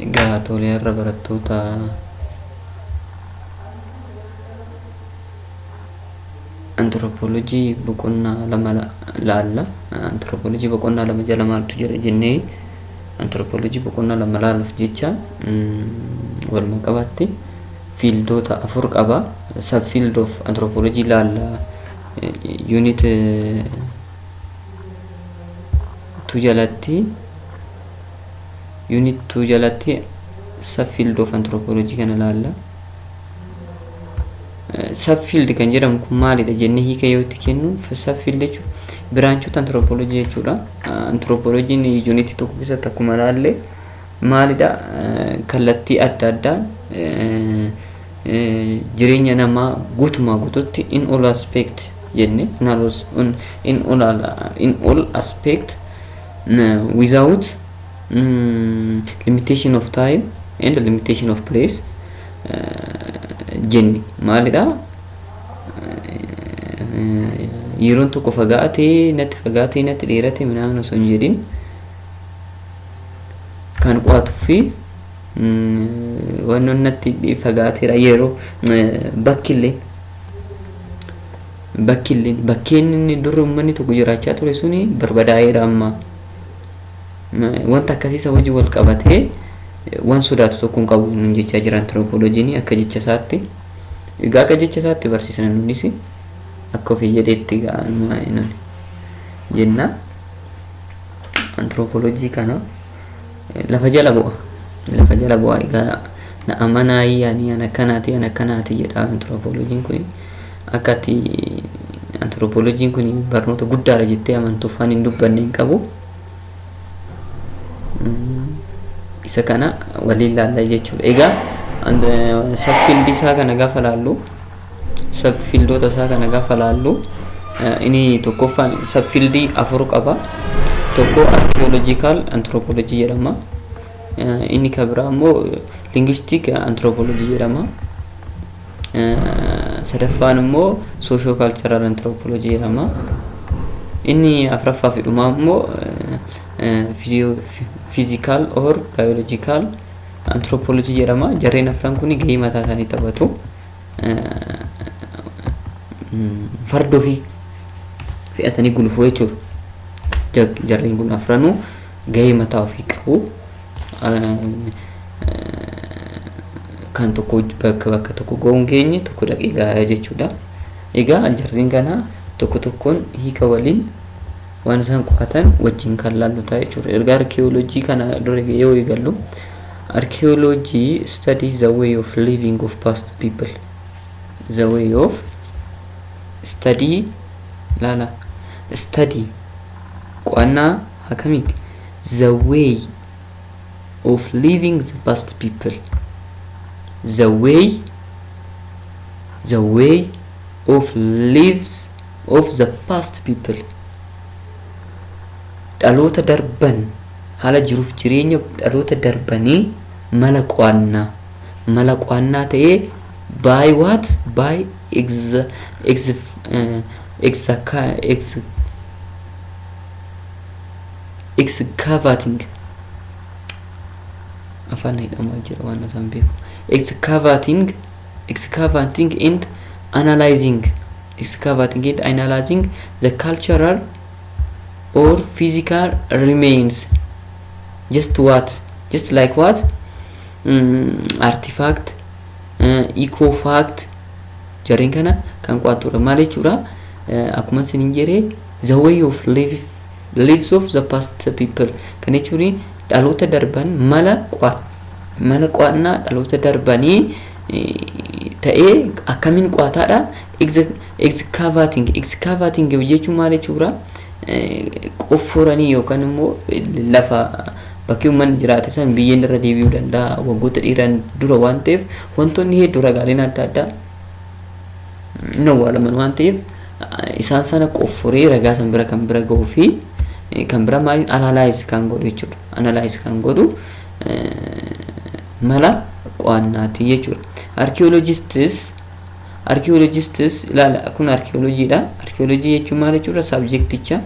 Egaa tolee har'a barattoota antiroopoolojii boqonnaa lama laalla. Antiroopoolojii boqonnaa lama jala maaltu jira jennee antiroopoolojii boqonnaa lama laaluuf jecha walumaa qabaatti fiildoota afur qaba. Sab fiild of antiroopoolojii laalla yuunit 2 jalatti unit 2 jalatti subfield of anthropology kana laalla subfield kan jedhamu kun maalidha jenne hiika yoo itti kennu subfield jechuun biraanchota anthropology jechuudha anthropology unit tokko keessatti akkuma laalle maalidha kallattii adda addaan jireenya namaa guutumaa guututti in all aspect jenne in all, in, in all, in all aspect mm, without mm, limitation of time and limitation of place eh, jenne maalidha Eh, yeroon tokko fagaatee natti fagaatee natti dheerate minaamin osoo hin jedhin kan qo'atuu fi Wannoon natti fagaateera yeroo bakkilleen bakkilleen bakkeen inni dur uummanni tokko jiraachaa ture suni barbadaa'eera amma. Wanta akkasiisa wajjin wal qabatee waan sodaatu tokko hin qabu nun jechaa jira antiroopooloojiin akka jecha isaatti. Egaa akka jecha isaatti barsiisna nunis akka ofii jedheetti ga'anuma nuni jenna. Antiroopooloojii kana. Lafa jala bu'a. Lafa jala bu'a egaa na amanaayi ani an akkanaati an akkanaati jedha antiroopooloojiin kun akka ati antiroopooloojiin kun barnoota guddaadha jettee amantuuf waan hin dubbanne hin qabu. Isa kana waliin laallaa jechuudha. Egaa saffin isaa kana gaafa laallu Sub fiildoota isaa kana gaafa laallu inni tokkoffaan sub fiildii afur qaba. Tokko archaeological anthropology jedhama. Inni kan biraa immoo linguistic anthropology jedhama. Sadaffaan immoo socio cultural anthropology jedhama. Inni afraffaa fi dhumaa immoo physical or biological anthropology jedhama. Jarreen afran kun gahee mataa isaanii taphatu. farda ofii fe'atanii gulufuu jechuudha. Jarreen kun afranuu gahee mataa ofii qabu. Kan tokko bakka bakka tokko ga'uun geenye tokko dhaqee gahaa jechuudha. Egaa jarreen kana tokko tokkoon hiika waliin waan isaan qoratan wajjin kan laallu ta'a jechuudha. Erga arkiyoolojii kana dura yoo eegallu arkiyoolojii study the way of living of past people the way of study laala study qo'annaa akkamiiti the way of living the past people the way the way of lives of the past people dhaloota darban haala jiruuf jireenya dhaloota darbanii mala qo'annaa mala qo'annaa ta'ee by what by ex ex ex ex excavating afaan hidhamaa jira waan isaan beeku excavating excavating and analyzing excavating and analyzing the cultural or physical remains just what just like what mm, artifact uh, eco fact jarreen kana kan qo'attudha maal jechuudha Eh, akkuma isin hin jedhe the way of live lives of the past people kan jechuun dhaloota darban mala qo'a mala qo'annaa dhaloota darbanii ta'ee akkamin qo'ataadha excavating excavating jechuun maal jechuudha qofforanii yookaan immoo lafa bakki uummanni jiraate san biyyeen irra deebi'uu danda'a waggoota dheeraan dura waan ta'eef wantoonni hedduu ragaaleen adda addaa hin awwaalaman waan ta'eef isaan sana qofforee ragaa san bira kan bira ga'uu fi kan bira maaliin analaayiz kan godhu jechuudha analaayiz kan godhu mala qo'annaati jechuudha. Archaeologists archaeologists ilaala kun archaeology dha. Archaeology jechuun maal jechuudha? Subjecticha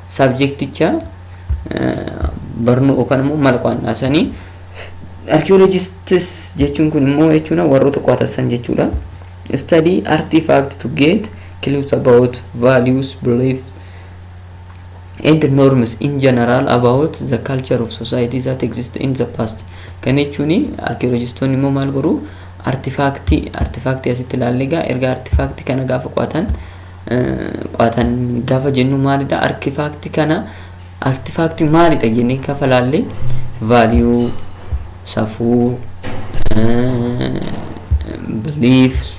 subjecticha barnoo yookaan immoo mala qo'annaa sanii archaeologists jechuun kun immoo jechuudha warroota qo'atan san jechuudha. Study artifact to get clues about values, belief, and norms in general about the culture of society that exist in the past kan jechuun arkiyoolojistoonni immoo maal godhu artifaaktii artifaaktii asitti ilaalle egaa erga artifaaktii kana gaafa qo'atan qo'atan gaafa jennu maalidha artifaaktii kana artifaaktii maalidha jennee gaafa ilaalle vaaliyuu safuu beliefs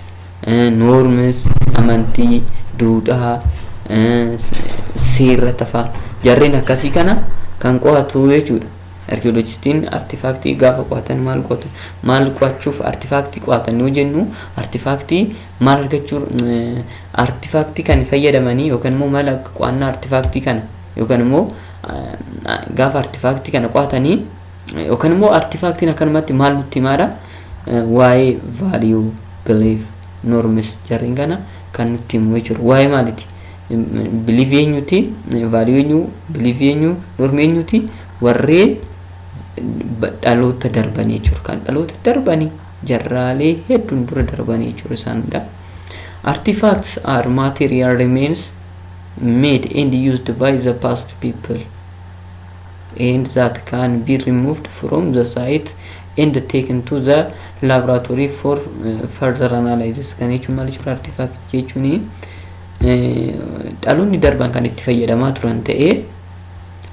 Norms, amantii, duudhaa, seerra tafaa jarreen akkasii kana kan qo'atu jechuudha. Arkiyoolojistiin artifaaktii gaafa qo'atan maal qo'atu? Maal qo'achuuf artifaaktii qo'atan yoo jennu artifaaktii maal argachuu artifaaktii kan fayyadamanii yookaan immoo mala qo'annaa artifaaktii kana yookaan immoo gaafa artifaaktii kana qo'atanii Yookaan immoo artifaaktiin akkanumatti maal nutti himaadha? Waa'ee value, belief, norms jarreen kana kan nutti himu jechuudha. Waa'ee maaliti? Belief eenyuti? Value eenyu? Belief eenyu? Norm eenyuti? Warreen dhaloota darbanii jechuudha. Kan dhaloota darbanii jarraalee hedduun dura darbanii jechuudha isaan hunda. Artifacts are material remains made and used by the past people. and that can be removed from the site and taken to the laboratory for eh, further analysis kan jechuun maal jechuudha artifact jechuun dhaloonni darban kan itti fayyadamaa turan ta'ee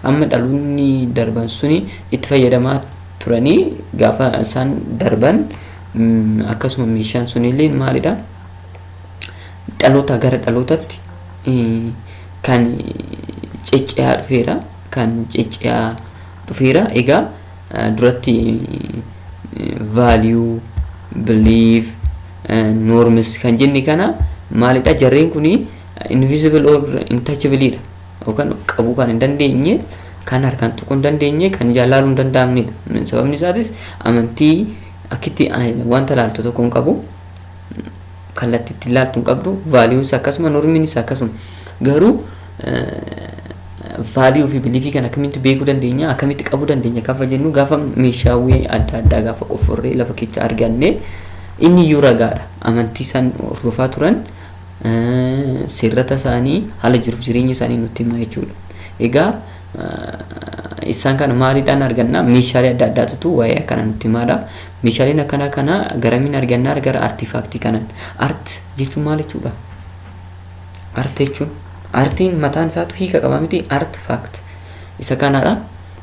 amma dhaloonni darban suni itti fayyadamaa turanii gaafa isaan darban mm, akkasuma meeshaan sunillee maalidha dhalootaa gara dhalootatti kan cecce'aa dhufeera. Kan cecce'aa dhufeera. Egaa duratti value, belief, norms kan jenne kana maalidha? Jarreen kun invisible or untouchable dha. Yookaan qabuu kan hin dandeenye, kan harkaan tuquu hin dandeenye, kan ijaan laaluu hin danda'amnedha. Sababni isaatis amantii akkitti wanta laaltu tokko hin qabu. kallatti itti ilaaltu hin qabdu value isa akkasuma normiin isa akkasuma garuu value fi beliefii kan akkamitti beekuu dandeenya akkamitti qabuu dandeenya gaafa jennu gaafa meeshaawwee adda addaa gaafa qofforree lafa keessa arganne inni iyyuu ragaadha amantii isaan hordofaa turan seerrata isaanii haala jiruuf jireenya isaanii nutti hima jechuudha egaa isaan kana maaliidhaan arganna meeshaalee adda addaatutu waa'ee akkana nutti himaadha Meeshaaleen akkanaa kana garamiin argannaa gara artifaaktii kanan. Art jechuun maal jechuudha? Art jechuun artiin mataan isaatu hiika qaba miti art fact isa kanaadha.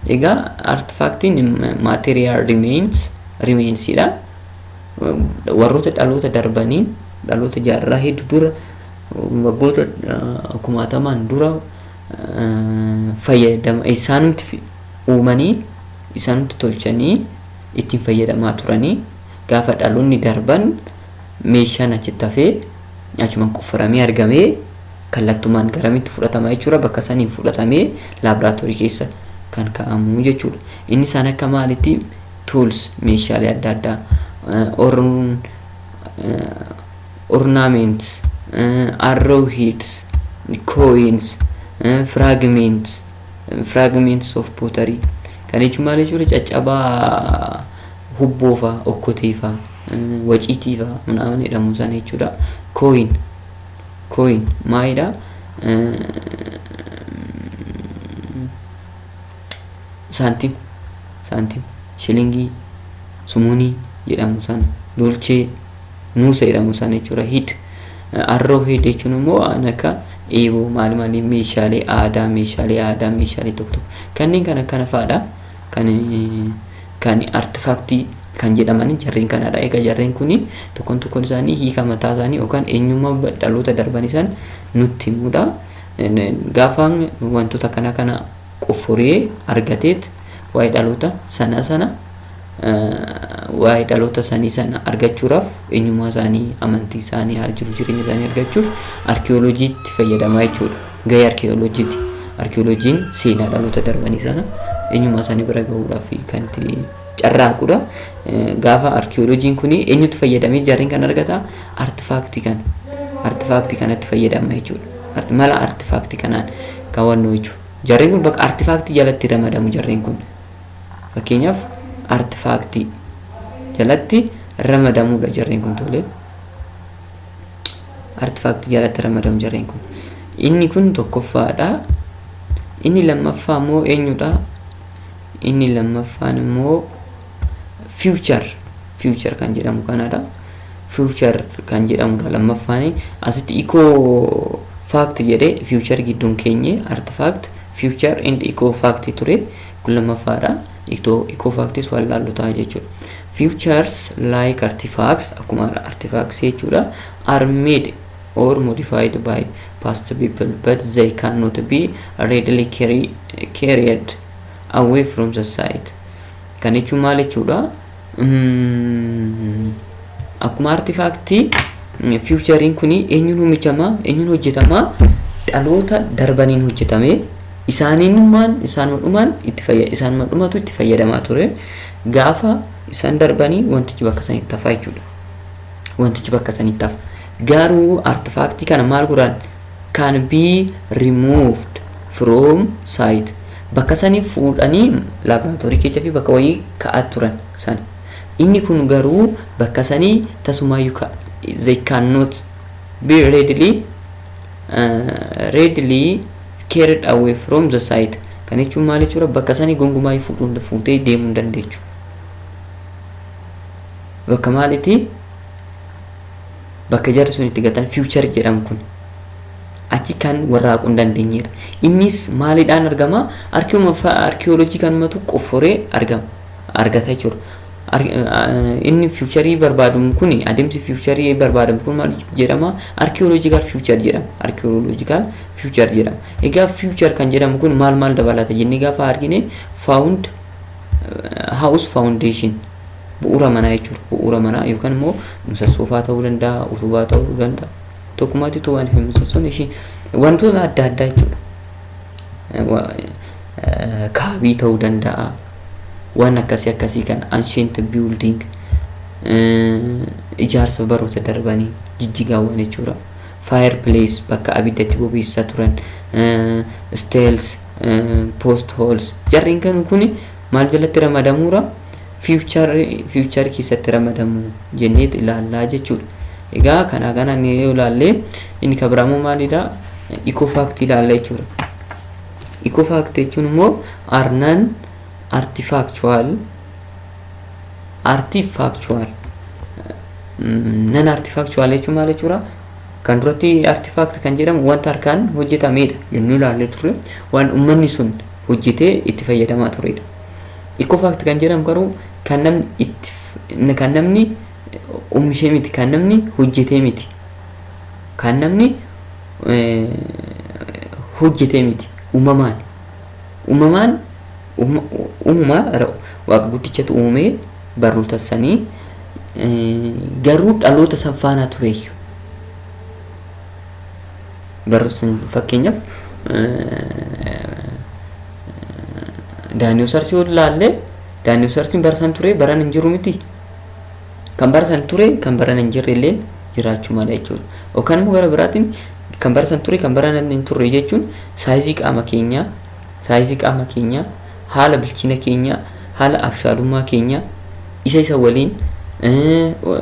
Egaa art factiin material remains remainsidha. Warroota dhaloota darbaniin dhaloota jaarraa hedduu dura waggoota kumaatamaan dura fayyadama isaanumti uumanii isaanumti tolchanii ittiin fayyadamaa turanii gaafa dhaloonni darban meeshaan achitti hafee achumaan qofforamee argamee kallattumaan garamitti fudhatama jechuudha bakka saniin fudhatamee laaboraatoorii keessa kan kaa'amu jechuudha. Inni isaan akka maalitti tools meeshaalee adda addaa orn ornaments arrow heads coins fragments Fragments of pottery. Kan jechuun maal jechuudha? Caccabaa hubboo fa'a, okkotee fa'a, waciitii fa'a minaaman jedhamu sana jechuudha. Coin. Coin maalidha? Saantima. Saantima. Shilingii, sumunii jedhamu sana. Dolchee. Nuusa jedhamu sana jechuudha. Hid. Arroo hid jechuun immoo waan akka eeboo maal maal meeshaalee aadaa meeshaalee aadaa meeshaalee tokko tokko kanneen kan akkana fa'aadha. Kan kan artifaaktii kan jedhaman jarreen kanadha. Egaa jarreen kun tokkoon tokkoon isaanii hiika mataa isaanii yookaan eenyummaa dhaloota darban isaan nutti himudha. Gaafa wantoota kana kana qofforee argateet waa'ee dhaloota sanaa sana waa'ee dhaloota sanii sana argachuudhaaf eenyummaa isaanii, amantii isaanii, haala jiruuf jireenya isaanii argachuuf arkiyooloojiitti fayyadamaa jechuudha. Gahee arkiyooloojiiti. Arkiyooloojiin seenaa dhaloota darbanii sana eenyummaa isaanii bira gahuudhaaf kan itti carraaqudha. Gaafa arkiyooloojiin kun eenyutti fayyadamee jarreen kan argata artifaaktii kana. Artifaaktii kanatti fayyadama jechuudha. Mala artifaaktii kanaan kaawwannoo jechuudha. Jarreen kun bakka artifaaktii jalatti ramadamu jarreen kun. Fakkeenyaaf, artifaaktii jalatti ramadamuudha jarreen kun tole. Artifaaktii jalatti ramadamu jarreen kun. Inni kun tokkoffaadha. Inni lammaffaa immoo eenyudha? Inni lammaffaan immoo future future kan jedhamu kanadha. Future kan jedhamudha lammaffaan asitti ikoo faakti jedhee future gidduun keenye artifaakti future and ikoo faakti ture. Kun lammaffaadha. Itoo ikoofaaktis wallaallu ta'a jechuudha. Futures like artifacts akkuma artifacts jechuudha are made or modified by past people but they cannot be readily carry, carried away from the site. Kan jechuun maal jechuudha? Akkuma artifaaktii fiiwuchariin kun eenyuun hojjetamaa eenyuun hojjetamaa dhaloota darbaniin hojjetamee isaaniinumaan isaanuma dhumaan itti fayyada isaanuma dhumatu itti fayyadamaa ture gaafa isaan darbanii wantichi bakka sanitti hafaa jechuudha. Wantichi bakka sanitti hafa. Garuu artifaaktii kana maal godhaan can be removed from site bakka sanii fuudhanii laaboraatoorii keecha fi bakka wayii ka'aa turan sana inni kun garuu bakka sanii tasumaayyuu ka they cannot be readily uh, readily carried away from the site kan jechuun maal jechuudha bakka sanii gongumaa fuudhuun fuutee deemuu hin dandeechu bakka maalitii Bakka jarri sun itti gatan future jedhan kun achi kan warraaquu hin dandeenyedha. Innis maalidhaan argama? Arkiuma fa- arkiyoolojii kanumatu qofforee argama argata jechuudha. Ar- eh, Inni future barbaadamu kun adeemsi future barbaadamu kun maal jedhama? Arkiyoolojikaal future jedhama. Arkiyoolojikaal future jedhama. Egaa future kan jedhamu kun maal maal dabalata jennee gaafa argine found eh, house foundation Bu'uura manaa jechuudha. Bu'uura manaa yookaan immoo musassoofaa ta'uu danda'a, utubaa ta'uu danda'a. Tokkummaatti utubaan fi musassoon ishii wantoota adda addaa jechuudha. Kaabii ta'uu danda'a. Waan akkasii akkasii kan ancient building ijaarsa baroota darbanii jijjigaawwan jechuudha. Fire place bakka abidda itti bobeessaa turan. Stairs, post holes jarreen kan kuni maal jalatti ramadamuura? future future keessatti ramadamu jenneet ilaallaa jechuudha. Egaa kanaa kanaan yoo ilaalle inni kan biraa immoo maalidha? Ecofact ilaalla jechuudha. Ecofact jechuun immoo arnan artifactual artifactual nan artifactual jechuun maal jechuudha? Kan duratti artifact kan jedhamu wanta harkaan hojjetamedha jennee ilaallee turre waan uummanni sun hojjetee itti fayyadamaa turedha. Ikoofaakti kan jedhamu garuu kan namni itti kan namni oomishee miti kan namni hojjetee miti kan namni hojjetee miti uumamaan uumamaan uumama waaqa guddichatu uumee barnoota sanii garuu dhaloota san faanaa tureeyyu. Garrabsan fakkeenyaaf daayinoosars yoo ilaalle daayinoosarsiin bara san ture baran hin jiru miti. Kan bara san ture kan baran hin jirre illee jiraachuu mala jechuudha. Yookaan immoo gara biraatiin kan bara san ture kan bara hin turre jechuun saayizii qaama keenyaa saayizii qaama keenyaa haala bilchina keenyaa, haala abshaalummaa keenyaa isa isa waliin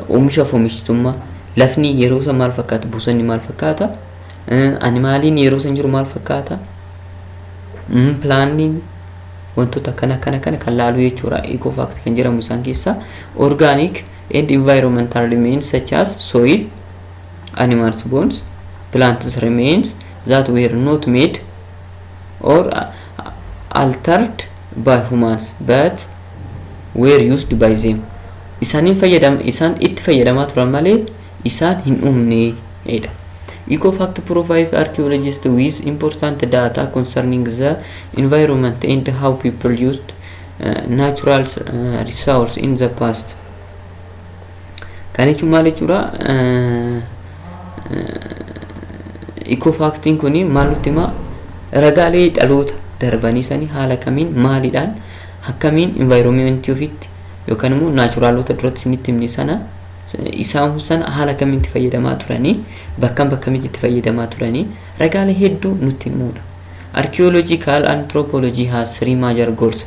oomisha fi oomishtummaa lafni yeroo san maal fakkaata, bosonni maal fakkaata, ani maaliin yeroo san jiru maal fakkaata, pilaanniin wantoota akkana akkana kana kan laalu jechuudha. Eco fact kan jedhamu isaan keessaa organic and environmental remains such as soil, animals bones, plants remains that were not made or altered by humans but were used by them isaaniin fayyadam isaan itti fayyadamaa turan malee isaan hin uumne dha. Ecofact provides archaeologists with important data concerning the environment and how people used uh, natural uh, resources in the past. Kan jechuun maal jechuudha? Ikoo faaktiin kun maal nutti himaa? Ragaalee dhaloota darbanii sanii haala kamiin maalidhaan akkamiin environmentii ofiitti yookaan immoo naachuraalota duratti isinitti himne sana isaan sana haala kamiin itti fayyadamaa turanii bakkan bakkamitti itti fayyadamaa turanii ragaalee hedduu nutti himuudha. Archaeological anthropology has three major goals.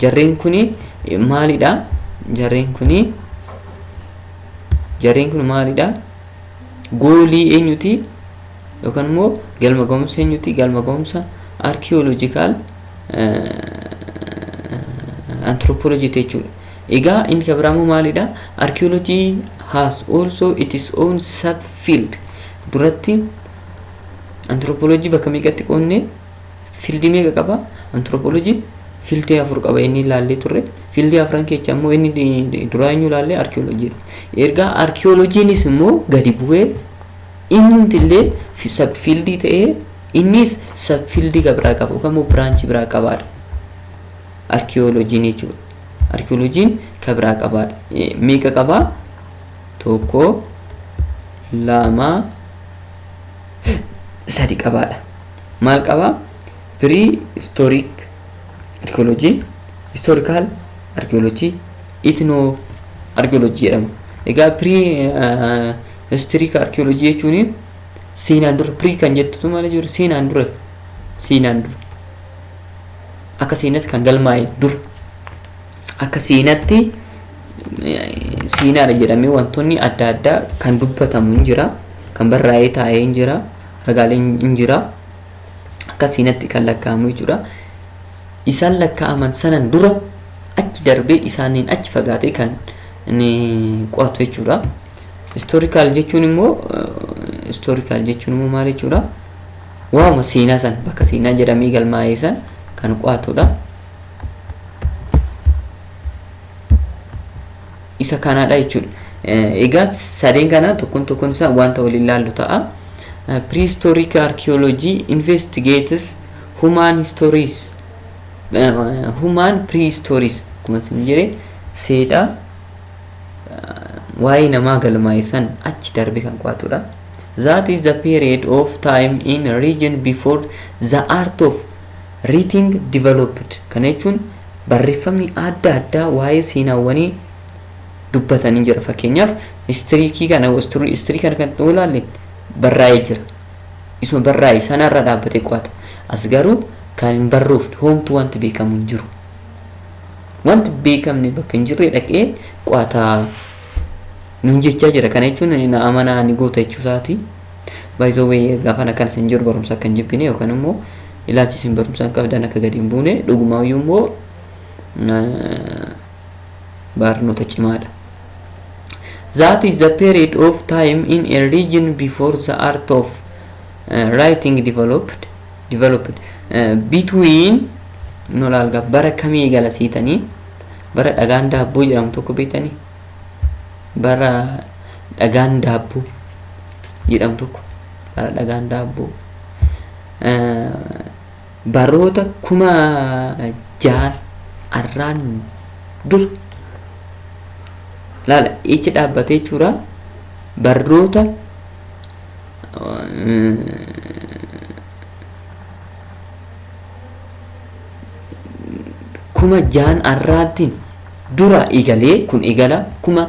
Jarreen kuni maalidha? Jarreen kuni jarreen kun maalidha? Goolii eenyuti? Yookaan immoo galma ga'umsa eenyuti? Galma ga'umsa arkiyooloojikaal anthropology jechuudha. Egaa inni kan biraa immoo maalidha? Archaeology has also its own subfield. Duratti anthropology bakka meeqatti qoodne? fiildii meeqa qaba antiroopooloojiin fiildii afur qaba inni ilaallee turre fiildii afran keessa immoo inni duraa eenyu ilaallee arkiyooloojiidha erga arkiyooloojiinis immoo gadi bu'ee innumti illee sab fiildii ta'ee innis sab fiildii biraa qaba yookaan immoo biraanchii biraa qabaadha arkiyooloojiin jechuudha arkiyooloojiin ka biraa qabaadha meeqa qabaa tokko lama sadi qabaadha maal qaba? Prehistoric archaeology, historical archaeology, ethno archaeology jedhama. Egaa prehistoric archaeology jechuun seenaan dura pre kan jettutu maal jiru seenaan dura seenaan dura akka seenatti kan galmaa'e dura akka seenatti eh, seenaadha jedhamee wantoonni adda addaa kan dubbatamu hin jira kan barraa'ee taa'ee hin jira ragaaleen hin jira akka siinatti kan lakkaa'amu jechuudha isaan lakkaa'aman sanan dura achi darbee isaaniin achi fagaatee kan ni qo'atu jechuudha istoorikaal jechuun immoo istoorikaal jechuun immoo maal jechuudha waama seenaa san bakka seenaa jedhamee galmaa'ee san kan qo'atudha. isa kanaadha jechuudha. Egaa sadeen kana tokkoon tokkoon isaa wanta waliin ilaallu ta'a. Prehistoric archaeology investigates human histories human prehistories akkuma isin jedhe seedha waa'ee namaa galmaa'e san achi darbe kan qo'atudha. That is the period of time in region before the art of Writing developed kana jechuun barreffamni adda addaa waa'ee seenaawwanii dubbatan ni jira. Fakkeenyaaf history kana history kana kan ta'uu ilaalle barraa'ee jira. Isuma barraa'e sana irra dhaabbatee qo'ata. As garuu kan hin barroofne hoomtu wanti beekamu hin jiru. Wanti beekamne bakka hin jirre dhaqee qo'ata nuun jechaa jira. Kana jechuun na amanaa ni goota jechuu isaati. By the way gaafan akkanas hin jiru barumsa akka hin jibbine yookaan immoo Ilaalchi isin barumsaan qabdan akka gadi hin buune dhugumaayyuu immoo barnoota cimaadha. That is the period of time in a region before the art of uh, writing developed developed uh, between no laalga bara kamii eegala siitanii bara dhagaan daabboo jedhamu tokko beektanii bara dhagaan daabboo jedhamu tokko bara dhagaan daabboo Baroota 6000 arraan dura laala ichi dhaabbatee jechuudha. Barroota kuma jaan arraattiin dura eegalee kun eegala kuma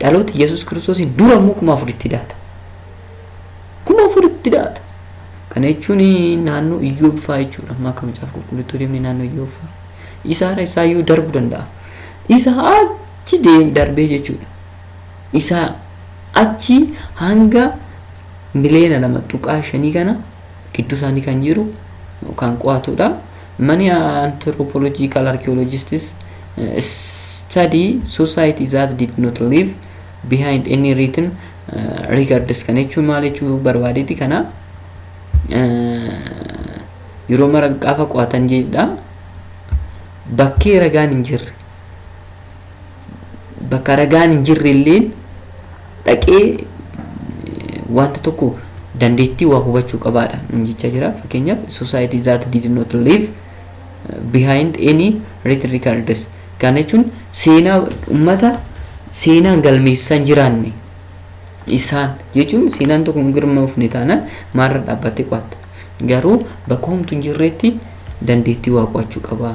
Dhaloota Yesuus Kiristoosiin dura immoo kuma afuritti daata. Kuma afuritti daata. Kana jechuun naannoo Iyyoob fa'aa jechuudha. Amma akka macaafa qulqulluutti deemnee naannoo Iyyoob fa'aa. Isaara isaa iyyuu darbu danda'a. Isa achi deem darbee jechuudha. Isa achi hanga miliyoona lama tuqaa shanii kana gidduu isaanii kan jiru kan qo'atudha. Many anthropological archaeologists eh, study society that did not leave behind any written eh, records kan jechuun maal jechuu barbaadeeti kana eh, yeroo mara gaafa qo'atan jedha bakkee ragaan hin jirre bakka ragaan hin jirre illeen dhaqee wanta tokko dandeettii waa hubachuu qabaadha nun jechaa jira fakkeenyaaf society that did not leave behind any written records kana jechuun seenaa ummata seenaan galmeessaan jiraanne isaan jechuun seenaan tokko hin galmoofne taanaan maalirra dhaabbattee qo'atta garuu bakka homtuu hin jirreetti dandeettii waa qo'achuu qabaa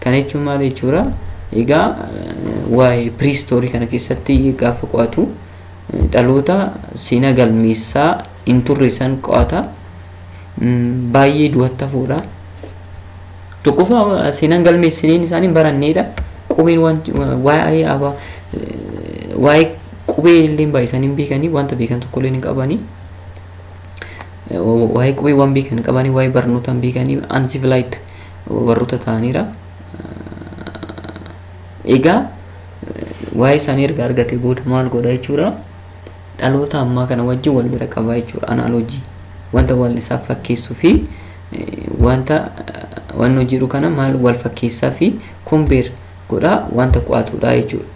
Kana jechuun maal jechuudha? Egaa waa'ee piriistoorii kana keessatti gaafa qo'atu dhaloota seenaa galmeessaa hin turre san qo'ata. Baay'ee du'atti hafoodha. Tokkoffaa seenaan galmeessiniin isaanii hin baranneedha. Qubeen waa'ee abaa waa'ee qubee illee baay'isanii hin beekanii wanta beekan tokko illee hin qabanii. Waa'ee qubee waan beekan hin qabanii waa'ee barnootaa hin beekanii ansivilaayit warroota ta'aniira. Egaa waa'ee isaanii erga argate booda maal godha jechuudha. Dhaloota ammaa kana wajjin wal bira qabaa jechuudha. Anaaloojii wanta wal isaaf fakkeessuu fi wanta wannoo jedhu kana maal wal fakkeessaa fi kombeer godhaa wanta qo'atudha jechuudha.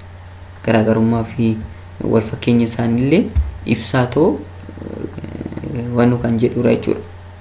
Garaagarummaa fi wal fakkeenya isaaniillee ibsaa too wannoo kan jedhudha jechuudha.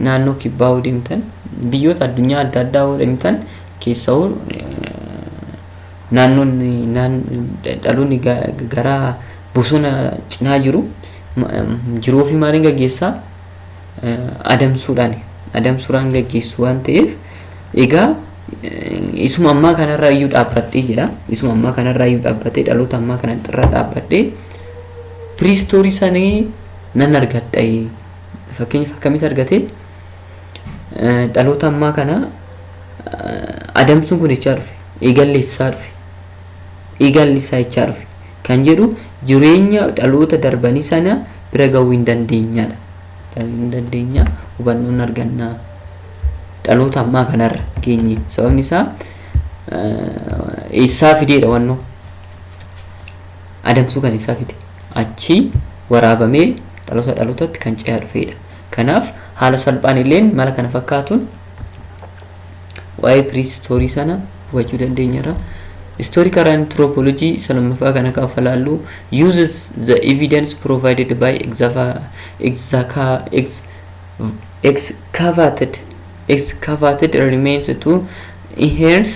naannoo kibbaa yoo deemtan biyyoota addunyaa adda addaa yoo deemtan keessawuu naannoon dhaloonni gara bosona cinaa jiru jiruu fi maaliin gaggeessaa adamsuudhaan adamsuudhaan gaggeessu waan ta'eef egaa isuma ammaa kanarraa iyyuu dhaabbadhee jira isuma ammaa kanarraa iyyuu dhaabbatee dhaloota ammaa kanarraa dhaabbadhee piriistoorii sanii nan argadha fakkeenyaaf akkamitti argate dhaloota ammaa kana adamsuun kun jechaa dhufe eegalli isaa dhufe eegalli isaa jechaa dhufe kan jedhu jireenya dhaloota darbanii sana bira gahuu hin dandeenyadha. Hin dandeenya hubannoon argannaa dhaloota ammaa kanarra geenye sababni isaa eessaa fideedha wannoo adamsuu kan isaa fide achii waraabamee dhaloota dhalootatti kan ce'aa dhufeedha. Kanaaf haala salphaan illeen mala kana fakkaatuun waa'ee piriistoorii sana hubachuu dandeenyerra. Historical anthropology isa lammaffaa kan akka falaallu uses the evidence provided by exava- exaca- ex- excavated excavated remains to enhance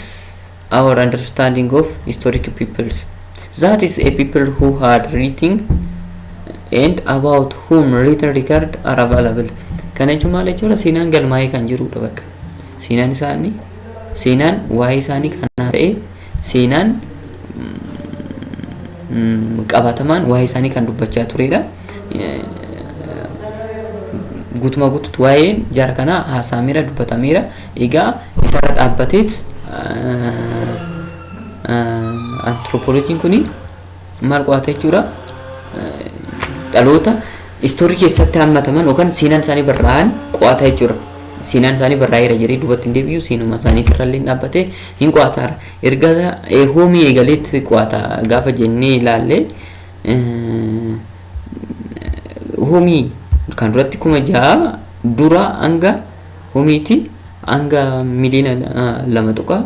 our understanding of historic peoples. That is a people who had written and about whom written record are available. Kana jechuun maal jechuudha? Seenaan galmaa'ee kan jirudha bakka. Seenaan isaanii seenaan waa'ee isaanii kanaa ta'e seenaan qabatamaan waa'ee isaanii kan dubbachaa turedha. guutumaa guututti waa'een jaara kanaa haasa'ameera dubbatameera egaa isarra dhaabbateet antiroopooloojiin kun maal qo'ata jechuudha dhaloota istoorii keessatti hammataman yookaan seenaan isaanii barraa'an qo'ata jechuudha. Seenaan isaanii barraa'eera jedhee duubatti hin deebi'u seenuma isaanii irrallee dhaabbatee hin qo'ataara. Erga hoomii eegaleetti qo'ata gaafa jennee ilaallee Homii kan duratti kuma ja'a dura hanga homiiti hanga miliina lama tuqa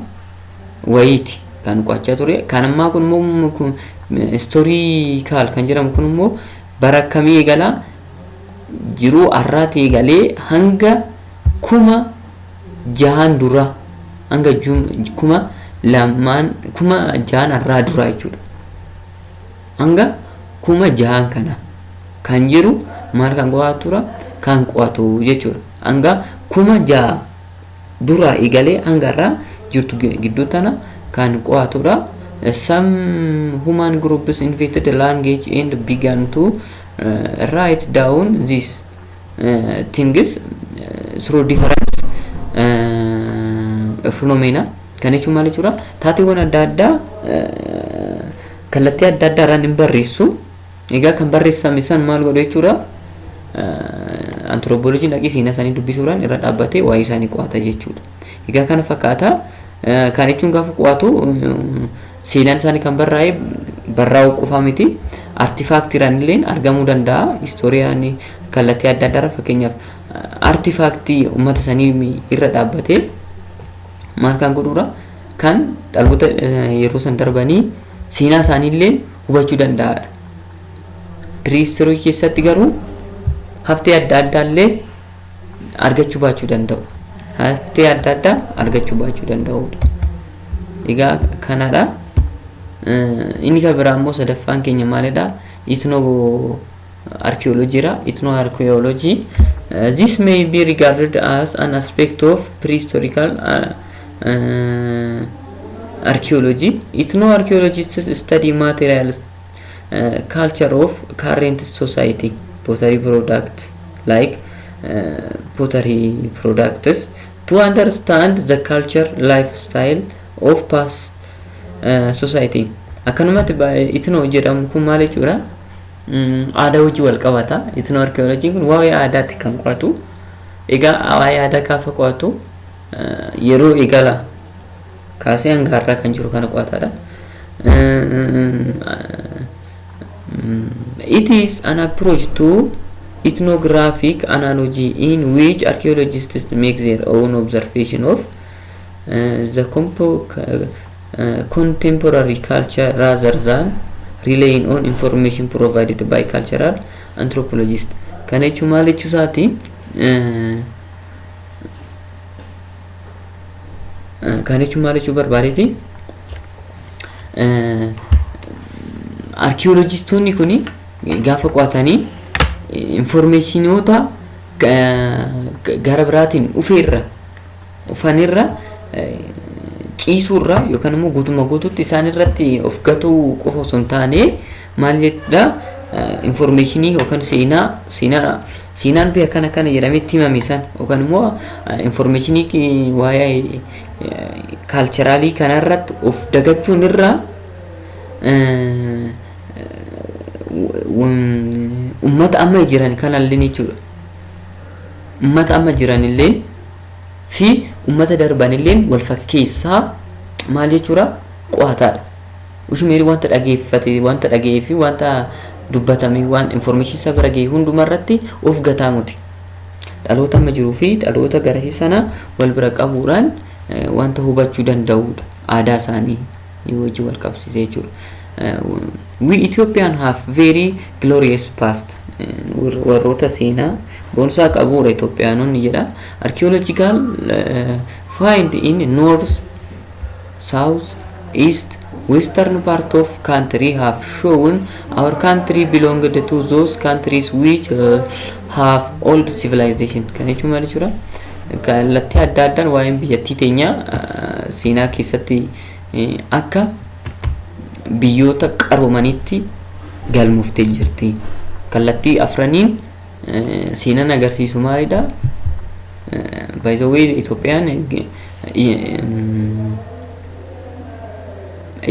wayiiti kan qo'achaa ture. Kan ammaa kun immoo istoorii kaal kan jedhamu kun immoo bara akkamii eegalaa jiruu har'aati eegalee hanga kuma jahan dura hanga kuma lamaan kuma jahan har'aa duraa jechuudha. hanga kuma jahaan kana kan jiru maal kan qo'atura kan qo'atu jechuudha hanga kuma jaha duraa eegalee hanga irraa jirtu gidduu tana kan qo'atudha some human groups invented language and began to uh, write down this things through different uh, phenomena kana jechuun maal jechuudha taateewwan adda addaa uh, kallattii adda addaa irraan hin barreessu egaa kan barreessame san maal godhu jechuudha uh, antiroopoolojiin dhaqii seenaa isaanii dubbisuudhaan irra dhaabbatee waa'ee isaanii qo'ata jechuudha egaa kana fakkaata Kan jechuun gaafa qo'atu seenaan isaanii kan barraa'e barraa'uu qofaa miti. Artifaaktiiraan illee argamuu danda'a. Istooriyaan kallattii adda addaarra fakkeenyaaf artifaaktii uummata sanii irra dhaabbatee maal kan godhuudha kan dhaloota yeroo san darbanii seenaa isaanii illee hubachuu danda'aadha. Piriistirii keessatti garuu haftee adda addaa illee argachuu baachuu danda'u. Haftee adda addaa argachuu baachuu danda'udha. Egaa kanadha. Inni kan biraa immoo sadaffaan keenya maalidha? Itnoo archaeologyidha. Itnoo archaeology. This may be regarded as an aspect of prehistorical uh, uh, archaeology. Itnoo archaeologists study materials Culture of current society pottery product like pottery products to understand the culture lifestyle of past uh, society akkanumatti itnoo jedhamu kun maal jechuudha aadaa hojii wal qabata itnoo arkiyooloojiin kun waa'ee aadaatti kan qo'atu egaa waa'ee aadaa gaafa qo'atu yeroo eegala kaasee hanga har'aa kan jiru kana qo'ataadha. It is an approach to ethnographic analogy in which archaeologists make their own observation of uh, the compo uh, contemporary culture rather than relying on information provided by cultural anthropologists. Kana jechuun maal jechuu isaati? Uh, Kan jechuun maal jechuu barbaadeeti? Arkiyoolojistoonni kun gaafa qo'atanii infoormeeshinoota gara biraatiin dhufeerra dhufanirra ciisuurra yookaan immoo guutummaa guutuutti isaan irratti of gatuu qofa osoo hin taane maal jedha informeeshinii yookaan seenaa seenaa seenaan biyya kana kana jedhamee itti himame san yookaan immoo informeeshinii waa'ee kaalcheraalii kanarratti of dagachuun irraa ummata amma jiran kanallee jechuudha. Ummata amma jiranillee fi ummata darbanillee wal fakkeessaa maal jechuudha qo'ataadha. Ushu Meri wanta dhageeffate, wanta dhaga'ee fi wanta dubbatame, waan information isa bira ga'e hunduma irratti of gataa muti. Dhaloota amma jiruu fi dhaloota garasii sana wal bira qabuudhaan wanta hubachuu danda'uudha. Aadaa isaanii wajjin wal qabsiisee jechuudha. We Ethiopian have very glorious past. Warroota seenaa boonsaa qabuudha Itoophiyaanonni jedha. Archaeological find in North South, East, Western part of country have shown our country belonged to those countries which have old civilization. Kan jechuun maal jechuudha? Kallattii adda addaan waa'een biyyattii teenyaa seenaa keessatti akka biyyoota qaroomaniitti galmooftee jirti. Kallattii afraniin seenan agarsiisu maalidha? By the way Itoophiyaan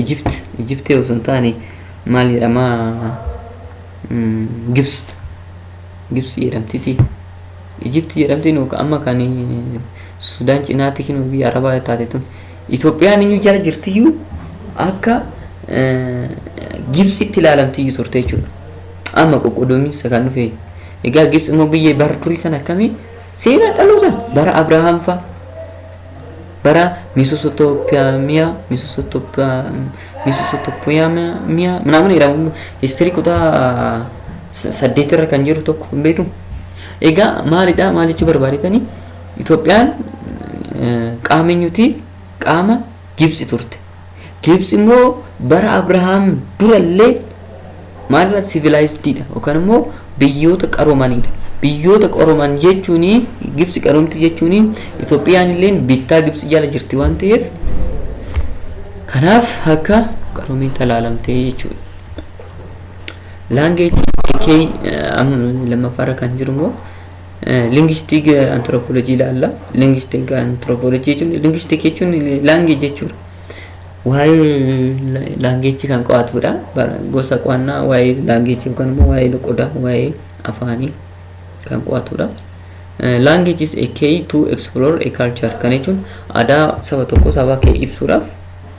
Egypt Egypt osoo hin taane maal jedhama Gibs Gibs jedhamtiti. Egypt jedhamti nu amma kan Sudaan cinaatti kinu biyya Arabaa taate tun. Itoophiyaan iyyuu jala jirtiyyuu akka Gibsitti ilaalamtiyyuu turte jechuudha. Amma qoqqoodaminsa kan dhufe egaa Gibtsi immoo biyya bara durii sana akkami seenaa dhalootaan bara Abrahaam fa bara Misosotopiyaamiyaa Misosotopiyaamiyaa minaamin jedhamu histirii kutaa saddeet irra kan jiru tokko hin beektu. Egaa maalidha maal jechuu barbaadetanii Itoophiyaan qaama eenyuti qaama Gibtsi turte. Gibts immoo bara Abrahaam dura illee maalidha civilized dha yookaan immoo biyyoota qaroomanidha. Biyyoota qarooman jechuun Gibts qaroomti jechuun Itoophiyaan illee bittaa Gibts jala jirti waan ta'eef kanaaf akka qaroomii talaalamtee jechuudha. Language kee lammaffaarra kan jiru immoo Lingistik antiroopoolojii ilaalla. Lingistik antiroopoolojii jechuun lingistik jechuun laangee jechuudha. Waa'ee laangeejii kan qo'atudha. Gosa qo'annaa waa'ee laangeejii yookaan immoo waa'ee loqodaa waa'ee afaanii kan qo'atudha. Language is a key to explore a culture kan jechuun aadaa saba tokkoo sabaa kee ibsuudhaaf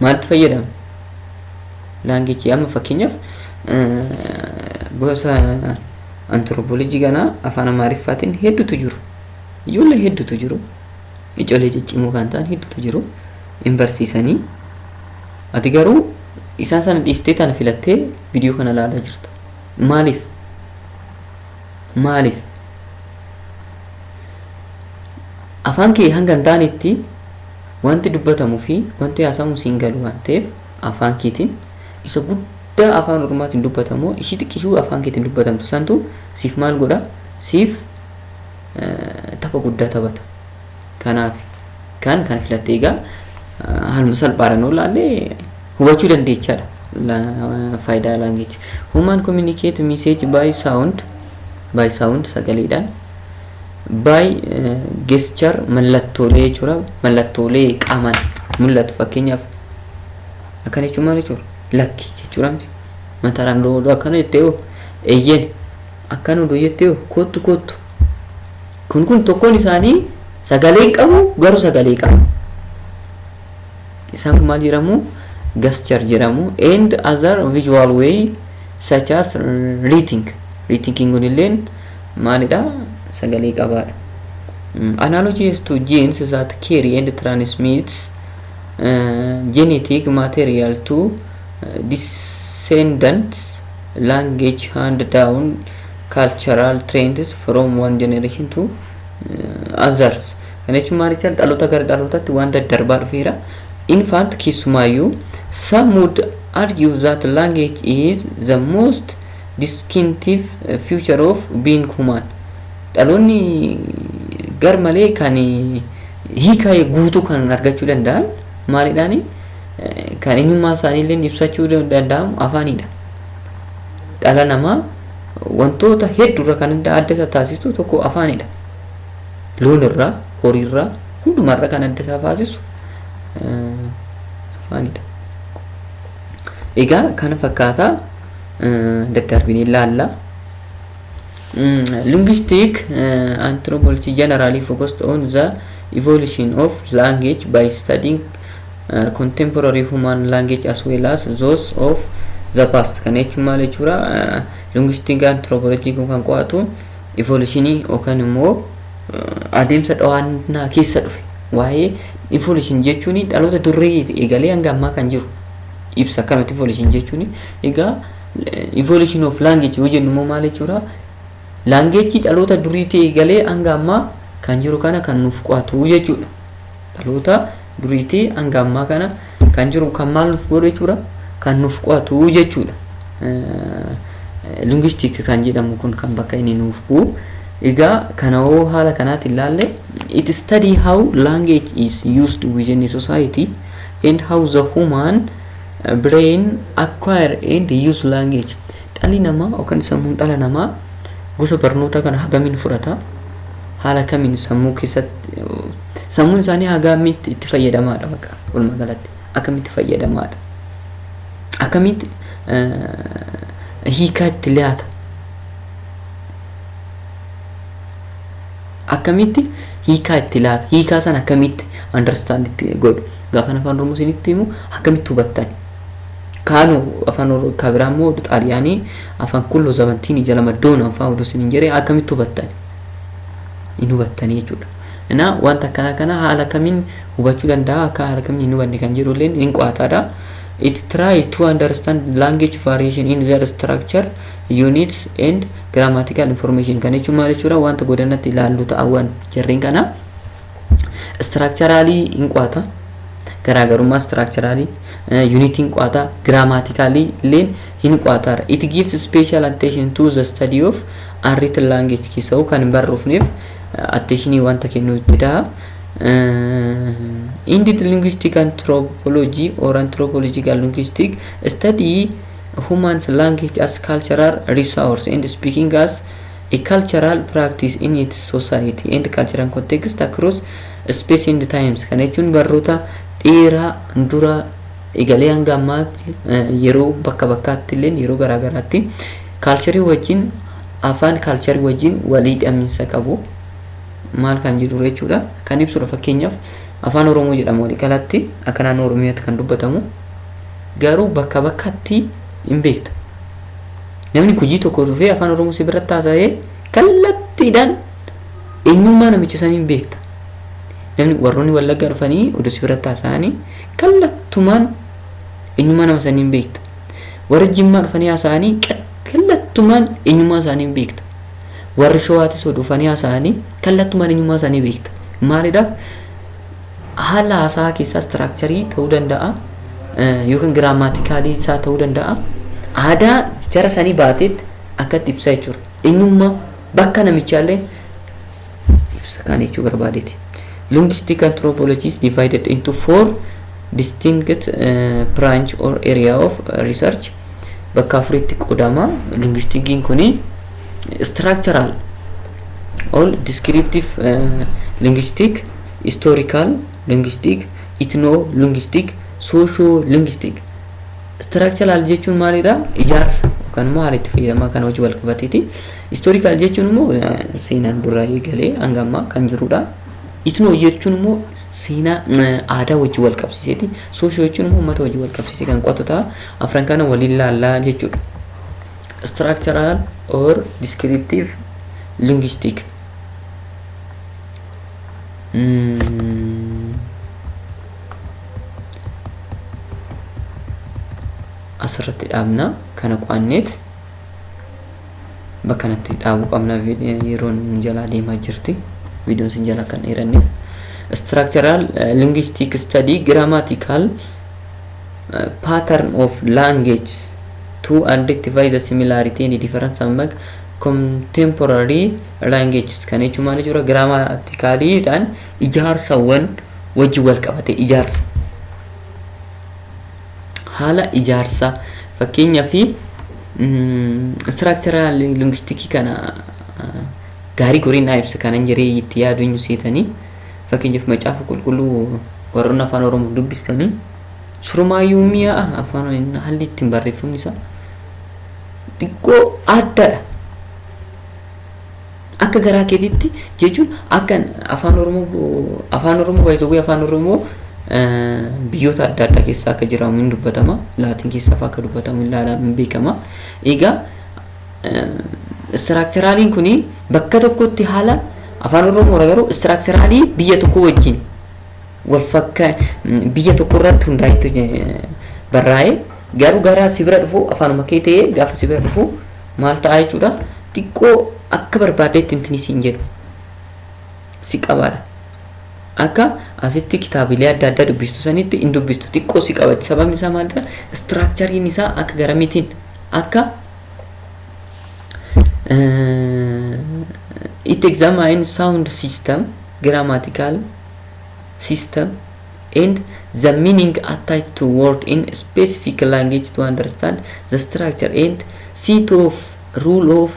maaltu fayyadama? Laangichi amma fakkeenyaaf gosa antiroopoolojii kanaa afaan amaariffaatiin hedduutu jiru. Ijoollee hedduutu jiru. Ijoollee ciccimoo kan ta'an hedduutu jiru. Hin barsiisanii. Ati garuu isaan sana dhiistee tana filattee viidiyoo kana ilaalaa jirta. Maaliif? Maaliif? Afaan kee hanga hin taanetti Wanti dubbatamu fi wanti haasamu siin galu waan ta'eef afaan keetiin isa guddaa afaan ormaatiin dubbatamoo ishii xiqqishuu afaan keetiin dubbatamtu santu siif maal godha siif tapha guddaa taphata kanaaf kan kan filatte egaa haaluma salphaadhaan yoo laalle hubachuu dandeechaadha faayidaa laangeechi human communicate message by sound by sound sagaleedhaan By gesture mallattoolee jechuudha. Mallattoolee qaamaan mul'atu fakkeenyaaf akkana jechuun maal jechuudha? Lakki jechuudha miti. Mataaraan doo doo akkana jettee hoo eeyyeen akkana doo jettee hoo koottu koottu. Kun kun tokkoon isaanii sagalee hin qabu garuu sagalee qaba. Isaan kun maal jedhamu? Gesture jedhamu. And other visual way such as reading. Reading kun illeen maalidha? Sagalee qabaadha. Mm, Analogies to genes that carry and transmits uh, genetic material to uh, descendants, language hand down, cultural trends from one generation to uh, others. Kana jechuun maal jechaadha? Dhaloota gara dhalootatti waan daddarbaa dhufeera. In fact, keessumaayyuu some would argue that language is the most distinctive feature of being human. Dhaloonni gar malee kan hiika guutuu kan argachuu danda'an maalidhaani? Kan eenyummaa isaaniillee ibsachuu danda'amu afaanidha. Dhala namaa wantoota hedduurra kan adda isa taasisu tokko afaanidha. Loon irraa, horii irraa, hundumaa irra kan adda isaa faasisu afaanidha. Egaa kana fakkaataa daddaarbinee ilaalla. Linguistic anthropology generally focused on the evolution of language by studying uh, contemporary human language as well as those of the past kana jechuun maal jechuudha linguistic anthropology kun kan qo'atu Ivolishinii yookaan immoo adeemsa dhawaannaa keessa dhufe waa'ee ivolishinii jechuun dhaloota durree eegalee hanga ammaa kan jiru ibsa akkanumatti ivolishinii jechuun egaa ivolishin of laangeeji yoo jennu immoo maal jechuudha laangeeji dhaloota duriitii eegalee hanga ammaa kan jiru kana kan nuuf qo'atu jechuudha. Dhaloota duriitii hanga ammaa kana kan jiru kan maal nuuf godhu jechuudha kan nuuf qo'atu jechuudha. Linguistic kan jedhamu kun kan bakka inni nuuf bu'u. Egaa kana hoo haala kanaatiin ilaalle it study how language is used within a society and how the human brain acquire and use language. Dhalli namaa yookaan sammuun dhala namaa gosa barnootaa kana hagamiin fudhata haala kamiin sammuu keessatti Sammuun isaanii hagaamitti itti fayyadamaadha bakka walumaa galatti akkamitti fayyadamaadha akkamitti hiikaa itti laata akkamitti hiikaa itti laata hiikaa san akkamitti understand itti godhu gaafa afaan oromoo isinitti himu akkamitti hubattan kaanu afaan oromoo kabiraa immoo xaaliyaanii afaan kullo zamantiin ija lama doona afaan oduu isiniin jedhee akkamitti hubattan hin hubattanii jechuudha Ina wanta akkanaa kana haala kamiin hubachuu danda'a akka haala kamiin hin hubanne kan jedhu illee hin qo'ataadha. It try to understand language variation in their structure, units and grammatical information kan jechuun maal jechuudha wanta godannatti ilaallu ta'awwan jarreen kana structurally hin qo'ata. garaagarummaa structurally unit hin qo'ata grammatically illeen hin qo'ataadha. It gives special attention to the study of unwritten language keessa'u kan hin barroofneef atteeshinii wanta kennuu itti ta'a. Indid linguistic anthropology or anthropological linguistic study humans language as cultural resource and speaking as a cultural practice in its society and cultural context across space and times kana jechuun barroota dheeraa dura egalee hanga ammaatti yeroo bakka bakkaatti illee yeroo garaagaraatti Kaalcharii wajjin, afaan kaalcharii wajjin waliidhaminsa qabu maal kan jedhudha jechuudha. Kan ibsudha fakkeenyaaf afaan Oromoo jedhama waliigalatti akka naannoo Oromiyaatti kan dubbatamu garuu bakka bakkatti hin beekta. Namni gujii tokko dhufee afaan Oromoo si biratti haasa'ee kallattiidhaan eenyummaa namicha sanii hin beekta. Namni warroonni wallaggaa dhufanii oduu si biratti haasa'anii kallattumaan eenyummaa nama sanii hin beekta. Warri Jimmaa dhufanii haasa'anii kallattumaan eenyummaa isaanii hin beekta. Warri Shawaatis yoo dhufanii haasa'anii kallattumaan eenyummaa isaanii beekta. Maalidhaaf haala haasaa keessaa istiraakcharii ta'uu danda'a yookiin giraamaatikaalii isaa ta'uu danda'a. Aadaa jara sanii baateetti akkatti ibsaa jechuudha. Eenyummaa bakka namichaallee ibsa kana jechuu barbaadeeti. Linguistic anthropology is divided into four distinct uh, branch or area of research. Bakka afuritti qoodama. Linguistikiin kuni structural all descriptive uh, linguistic, historical linguistic, ethno linguistic, socio linguistic. Structural jechuun maalidha? Ijaarsa yookaan immoo haala itti fayyadamaa kana wajjin wal qabateeti. Historical jechuun immoo seenaan duraa eegalee hanga ammaa kan jirudha. Itnoo jechuun immoo seenaa aadaa wajjin wal qabsiiseeti. Soosho jechuun immoo uummata wajjin wal qabsiisee kan qo'atu ta'a. Afran kana waliin laallaa jechuudha. Structural or descriptive linguistic. Mm. asirratti dhaabna kana qo'anneet bakka kanatti dhaabuu qabna yeroon nu jalaa deemaa jirti viidiyoon sin jalaa kan dheeranneef structural linguistic study grammatical pattern of language to identify the similarity and difference among contemporary languages kan jechuun maal jechuudha giraamaatikaaliidhaan Ijaarsawwan wajjin wal qabate ijaarsa haala ijaarsa fakkeenya fi istiraakcharaa linguistikii kana gaarii goriin naa ibsa kanan jiree itti yaaduun seetanii fakkeenyaaf macaafa qulqulluu warroonni afaan oromoo dubbistanii surumaayyuu mi'a afaan haalli ittiin barreeffamni isaa xiqqoo addadha. Akka garaa keetitti jechuun akka afaan oromoo afaan oromoo by the way afaan oromoo biyyoota adda addaa keessa akka jiraamu hin dubbatama laatiin keessa fa'aa akka dubbatamu hin laalaa hin beekama egaa istiraakcheraaliin kun bakka tokkotti haala afaan oromoo garuu istiraakcheraalii biyya tokko wajjin wal fakka biyya tokko irratti hundaa'etti barraa'ee garuu gara si bira dhufu afaanuma kee ta'ee gaafa si bira dhufu Maal ta'a jechuudha? Xiqqoo akka barbaaddeetti intini siin jedhu si qabaadha. Akka asitti kitaabilee adda addaa dubbistu sanitti hin dubbistu xiqqoo si qabatti. Sababni isaa maalidha? Istiraakchariin isaa akka garamiitiin akka it examine sound system, grammatical system, and the meaning attached to word in specific language to understand the structure and seat of rule of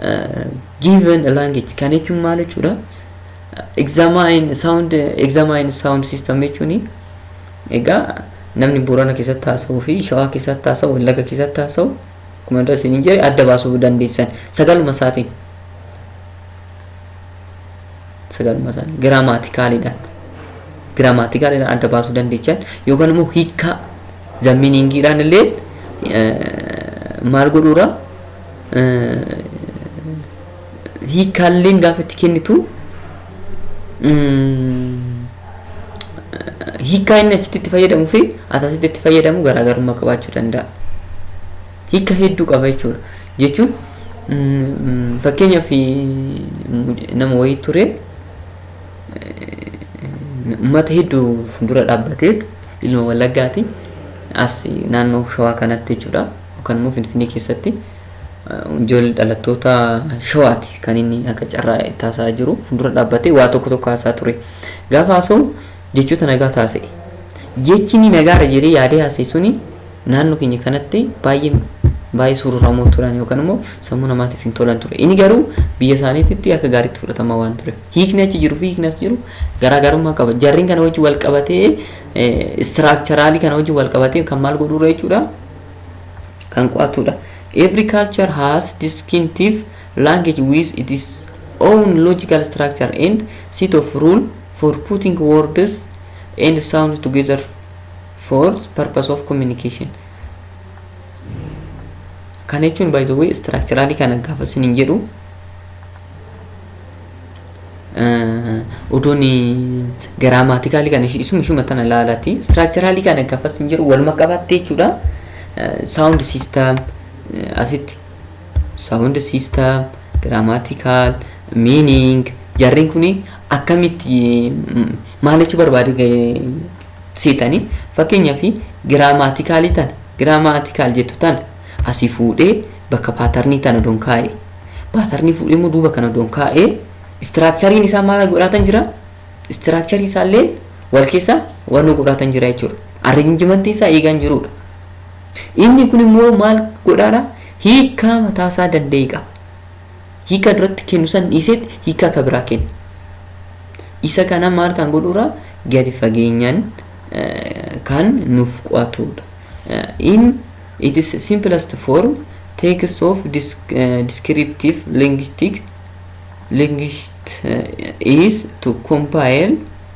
uh, given language kan jechuun maal jechuudha examine sound examine sound system jechuun egaa namni boorana keessatti haasa'uu fi shawaa keessatti haasa'u wallaga keessatti haasa'u akkuma dura isin jedhe adda baasuu dandeessan sagaluma isaatiin sagaluma isaanii giraamaatikaaliidhaan giraamaatikaaliidhaan adda baasuu dandeechan yookaan immoo hiikkaa zammiiniingiidhaan illee maal godhuura hiikkaalleen gaafa itti kennitu hiikkaa inni achitti itti fayyadamu fi asasitti itti fayyadamu garaagarummaa qabaachuu danda'a. Hiika hedduu qaba jechuudha. Jechuun fakkeenyaaf nama wayii ture uummata hedduu fuuldura dhaabbatee ilma Wallaggaati as naannoo Shawaa kanatti jechuudha. Yookaan immoo Finfinnee keessatti ijoollee dhalattoota Shawaati kan inni akka carraa itti haasa'aa jiru fuuldura dhaabbatee waa tokko tokko haasaa ture. Gaafa haasa'u jechoota nagaa taasise. Jechi inni nagaara jedhee yaadee haasa'e suni Naannoo keenya kanatti baay'ee baay'ee sururamoo turan yookaan immoo sammuu namaatiif hin tolan ture. Inni garuu biyya isaaniititti akka gaariitti fudhatamaa waan ture. Hiikni achi jiru fi hiikni as jiru garaagarummaa qaba. Jarriin kana wajjin wal qabatee istiraakcharaalii kana wajjin wal qabatee kan maal godhuudha jechuudha kan qo'atuudha. Every culture has distinctive language with its own logical structure and set of rule for putting words and sound together for purpose of communication kan jechuun by the way structurally kana gaafa sin hin jedhu odoon giraamaatikaalii kana isuma ishuma tana laalaati structurally kana gaafa sin jedhu waluma qabattee jechuudha sound system asitti sound system grammatical meaning jarreen kuni akkamitti maal jechuu barbaade seetani fakkeenyafi giraamaatikaalii tana giraamaatikaal jettu tana asii fuudhee bakka paatarnii tana odoon kaa'ee paatarnii fuudhee immoo duuba kana odoon kaa'ee istiraakchariin isaa maal godhaatan jira istiraakcharii isaalleen wal keessa wanoo godhaatan jira jechuudha arranjimantii isaa eegaan jiruudha inni kun immoo maal godhaadha hiikaa mataasaa danda'e qaba Hiika duratti kennu san dhiiseet hiika ka biraa kenna. Isa kana maal kan godhuura gadi fageenyaan kan nuuf qo'atuudha. In its simplest form, text of descriptive linguistic linguist is to compile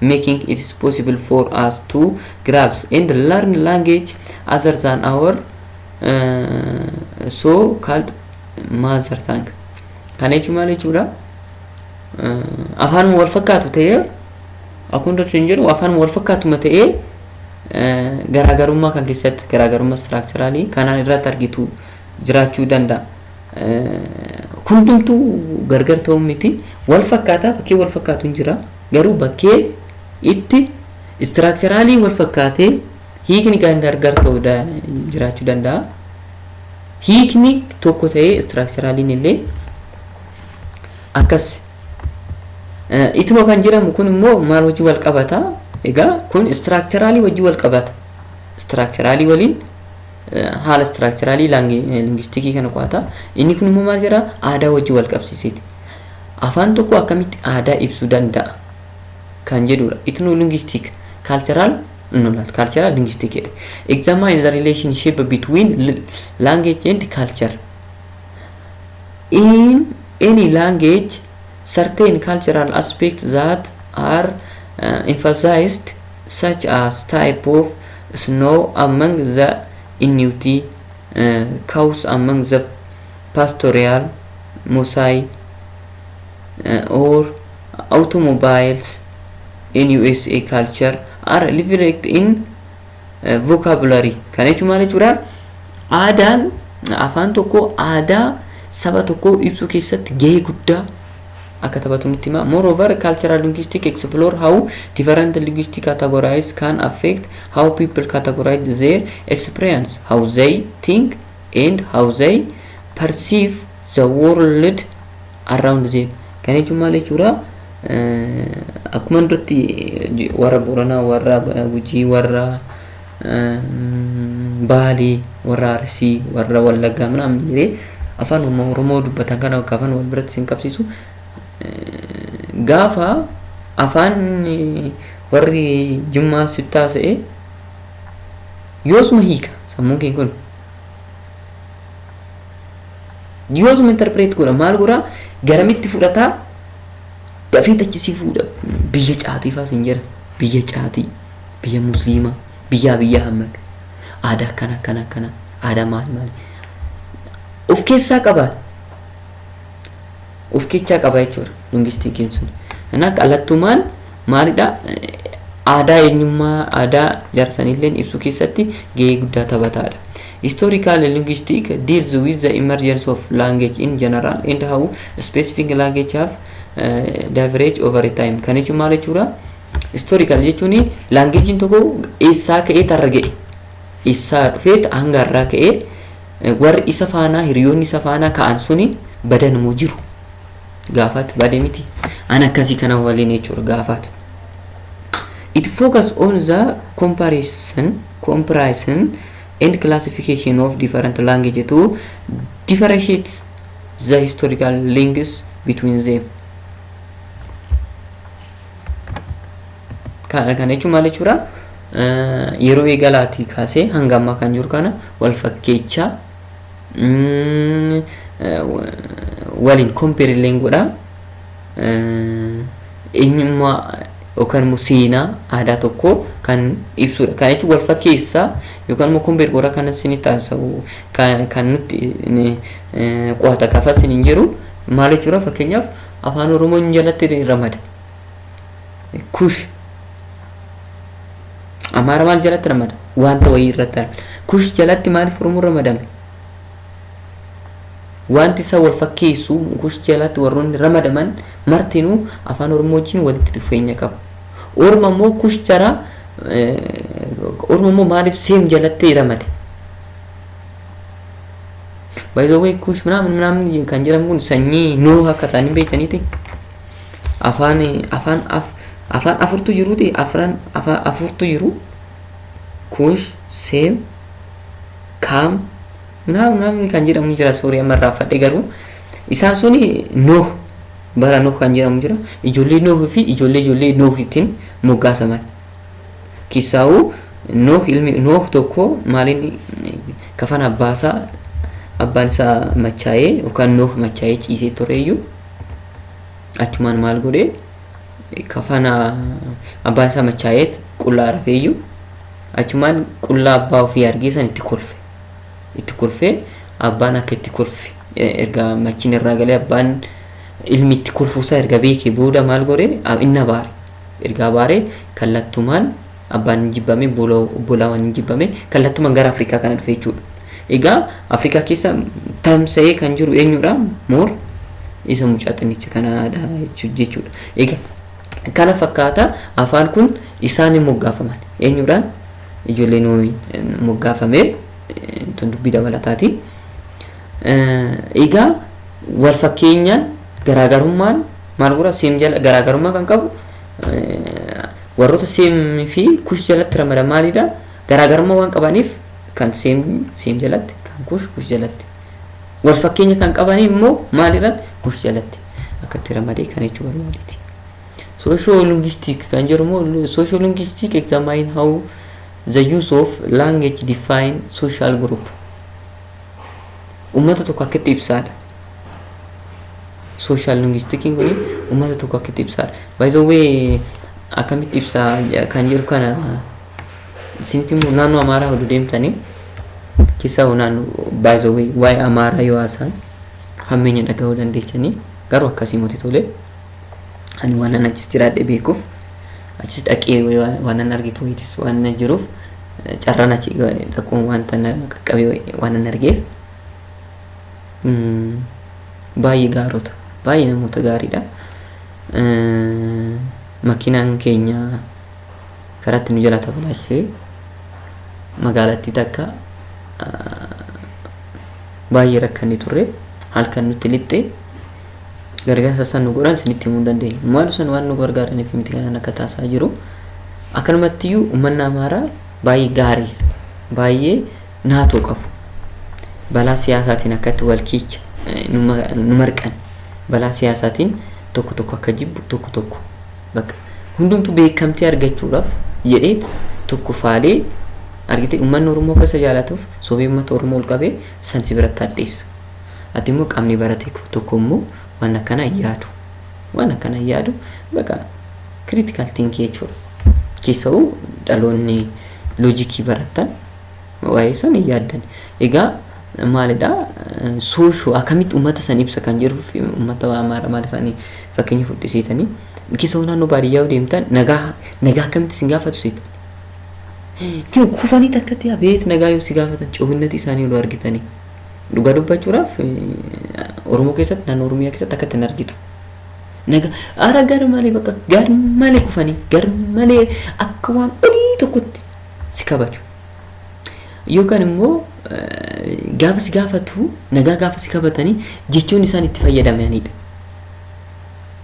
making it is possible for us to grasp and learn language other than our uh, so called mother tongue kana jechuun maal jechuudha uh, afaan wal fakkaatu ta'ee akkuma dursu hin jedhu afaan wal fakkaatuma ta'ee uh, garaagarummaa kan keessatti garaagarummaa istiraakchiraalii kanaan irratti argitu jiraachuu danda'a. Hundumtuu gargar ta'uu miti. Wal fakkaataa bakkee wal fakkaatu hin jira. Garuu bakkee itti istiraakcharaalii wal fakkaatee hiikni kan gargar ta'u jiraachuu danda'a. Hiikni tokko ta'ee istiraakcharaaliin illee akkas. Ituma kan jedhamu kun immoo maal wajjin wal qabata? Egaa kun istiraakcharaalii wajjin wal qabata. Istiraakcharaalii waliin haala istiraakcharaalii lingistikii kana qo'ata. Inni kun immoo maal jedha? Aadaa wajjin wal qabsiiseeti. Afaan tokko akkamitti aadaa ibsuu danda'a kan jedhudha. Ethnolinguistic, cultural, no, not cultural, linguistic jedhe. Examine the relationship between l- language and culture. In any language, certain cultural aspects that are uh, emphasized such as type of snow among the Inuit, cows among the pastoral Mosai, or automobiles in USA culture are reflected in vocabulary. Kana jechuun maal jechuudha? Aadaan afaan tokko aadaa saba tokkoo ibsuu keessatti gahee guddaa akka taphatu nutti hima. Moreover, cultural linguistics explore how different linguistic categories can affect how people categorize their experience, how they think, and how they perceive the world around them. Kana jechuun maal jechuudha? Akkuma duratti warra Booranaa, warra Gujii, warra Baalee, warra Arsii, warra Wallaggaa minaamin jedhee afaan uumma Oromoo dubbatan kana bakka afaan wal biratti sin qabsiisu. Gaafa afaan warri Jimmaa sitti haasa'e yoosuma hiika sammuun kee kun. Yoosuma interpreet godha maal godha garamitti fudhataa dafee tachisii fuudha biyya caatii faa sin jedha biyya caatii. biyya musliima biyyaa biyyaa hammadhu aadaa akkana akkana akkana aadaa maal maal of keessaa qaba of keessaa qaba jechuudha lungistiin keenya sun kanaaf qallattumaan maalidha aadaa eenyummaa aadaa jaarsanillee ibsuu keessatti gahee guddaa taphataadha. Historical linguistic deals with the emergence of language in general and how specific language have uh, diverged over time. Kan jechuun maal jechuudha? Historical jechuun language'n tokko eessaa ka'ee tarra ga'e eessaa dhufee hanga har'aa ka'ee warri isa faanaa hiriyoonni isa faanaa ka'an suni badan moo jiru gaafaat bade miti an akkasii kana waliin jechuudha gaafaat. It focus on the comparison, comparison and classification of different language to differentiate the historical links between them. Kana kana jechuun maal jechuudha? Eh, Yeroo eegalaatii kaasee hanga ammaa kan jiru kana wal fakkeechaa mm, eh, wa- waliin kompeeri illee godhaa eh, eenyummaa yookaan immoo seenaa aadaa tokkoo kan ibsudha. Kana jechuun wal fakkeessaa yookaan immoo kompeeri godhaa kan isin taasisu kan kan nutti eh, qo'ata gaafas hin jiru maal jechuudha fakkeenyaaf Afaan Oromoon jalatti ramada. Kush. Amaara maal jalatti ramada? Wanta wayii irratti argama. Kush jalatti maaliif Oromoon ramadame? Wanti isa wal fakkeessu kush jalatti warroonni ramadaman martinuu afaan Oromoo wajjin walitti dhufeenya qabu. Orma immoo kush jara Orma immoo maaliif seem jalatti ramade? By the way kuush minaamin minaamin kan jedhamu kun sanyii nuuh akka ta'an hin beektaniiti. Afaan afaan af afaan afurtu jiruuti afran afaan afurtu jiru. Kuush, Seem, Kaam, minaamin minaamin kan jedhamu jira soorii amma irraanfadhe garuu isaan suni nuuh bara nuuh kan jedhamu jira ijoollee nuuh fi ijoollee ijoollee nuuh ittiin moggaasaman. Kissaawu Nooh ilmi Nooh tokko maaliin kafana abbaa isaa abbaan isaa machaa'ee yookaan Nooh machaa'ee ciisee tureeyyu achumaan maal godhe kafana abbaan isaa machaa'ee qullaa rafeeyyu achumaan qullaa abbaa ofii argee san itti kolfe itti kolfee abbaan akka itti kolfe erga machiin irraa galee abbaan ilmi itti kolfuusaa erga beekee booda maal godhe inni abaare Erga abaaree kallattumaan abbaan hin jibbame, boola obbolaawan hin jibbame, kallattumaan gara Afrikaa kana dhufe jechuudha. Egaa Afrikaa keessa tamsa'ee kan jiru eenyudha? Moor isa mucaa xinnicha kanaadha jechu- jechuudha. Egaa kana fakkaata afaan kun isaan hin moggaafaman. Eenyudhaan? Ijoollee Noohi moggaafame eh, tun dubbii dabalataati. Eh, Egaa wal fakkeenyaan garaagarummaan Maal godha seem jala garaagarummaa kan qabu warroota seem fi kush jalatti ramada maalidha garaagarummaa waan qabaniif kan seem seem jalatti kan kush kush jalatti wal fakkeenya kan qabanii immoo maalirratti kush jalatti akkatti ramadee kan jechuu barbaadeeti. Social linguistic kan jedhu immoo social linguistic examine how the use of language define social group. Uummata tokko akkatti ibsaadha. social linguistic kun uummata tokko akkitti ibsaa by the way akkamitti ibsaa kan jiru kana isinitti immoo naannoo amaaraa hodhu deemtanii keessaa hoo naannoo by the way waa'ee amaaraa yoo haasaan hammeenya dhagahuu dandeechanii garuu akkasii moti tolee ani waan an achis jiraadhe beekuuf achis dhaqee waan an argitu wayitis waan na jiruuf carraan achi dhaquun wanta na qaqqabe waan an argeef Baay'ee gaarota. Baay'ee namoota gaariidha. Makiinaan keenya karaatti nu jalaa tabalaashee magaalattii takka baay'ee rakkanne turre halkan nutti lixxe gargaarsa isaan nu godhan isinitti himuu hin dandeenye. Maal isaan waan nu gargaaraniif miti kanaan akka taasaa jiru. Akkanumattiyyuu uummanni Amaaraa baay'ee gaarii baay'ee Naatoo qabu. Balaa siyaasaatiin akkatti wal kiicha nu marqan. Balaa siyaasaatiin tokko tokko akka jibbu tokko tokko bakka hundumtu beekamtii argachuudhaaf jedheet tokko faalee argitee uummanni Oromoo akka isa jaalatuuf sobee uummata Oromoo ol qabee san si biratti hadheessa. Ati immoo qaamni barate tokko immoo waan akkanaa hin yaadu. Waan akkanaa hin yaadu bakka critical thinking jechuudha. Keessa'uu dhaloonni loojikii baratan Waa'ee san hin yaaddan. Egaa maalidha soosho akkamitti uummata san ibsa kan jiruu fi uummata waa maara maaliif ani fakkeenya fudhisiitanii keessa hoo naannoo baadiyyaa yoo deemtan nagaa nagaa akkamitti isin gaafatu seetan. Kinu kufanii takkatti yaa beet nagaa yoo si gaafatan coohinnatii isaanii yoo argitanii. Dhugaa dubbachuudhaaf Oromoo keessatti naannoo Oromiyaa keessatti akkatti hin argitu. Naga ara gar malee bakka gar malee kufanii gar malee akka waan olii tokkotti si kabaju. Yookaan immoo gaafa si gaafatu nagaa gaafa si kabatanii jechoon isaan itti fayyadamanidha.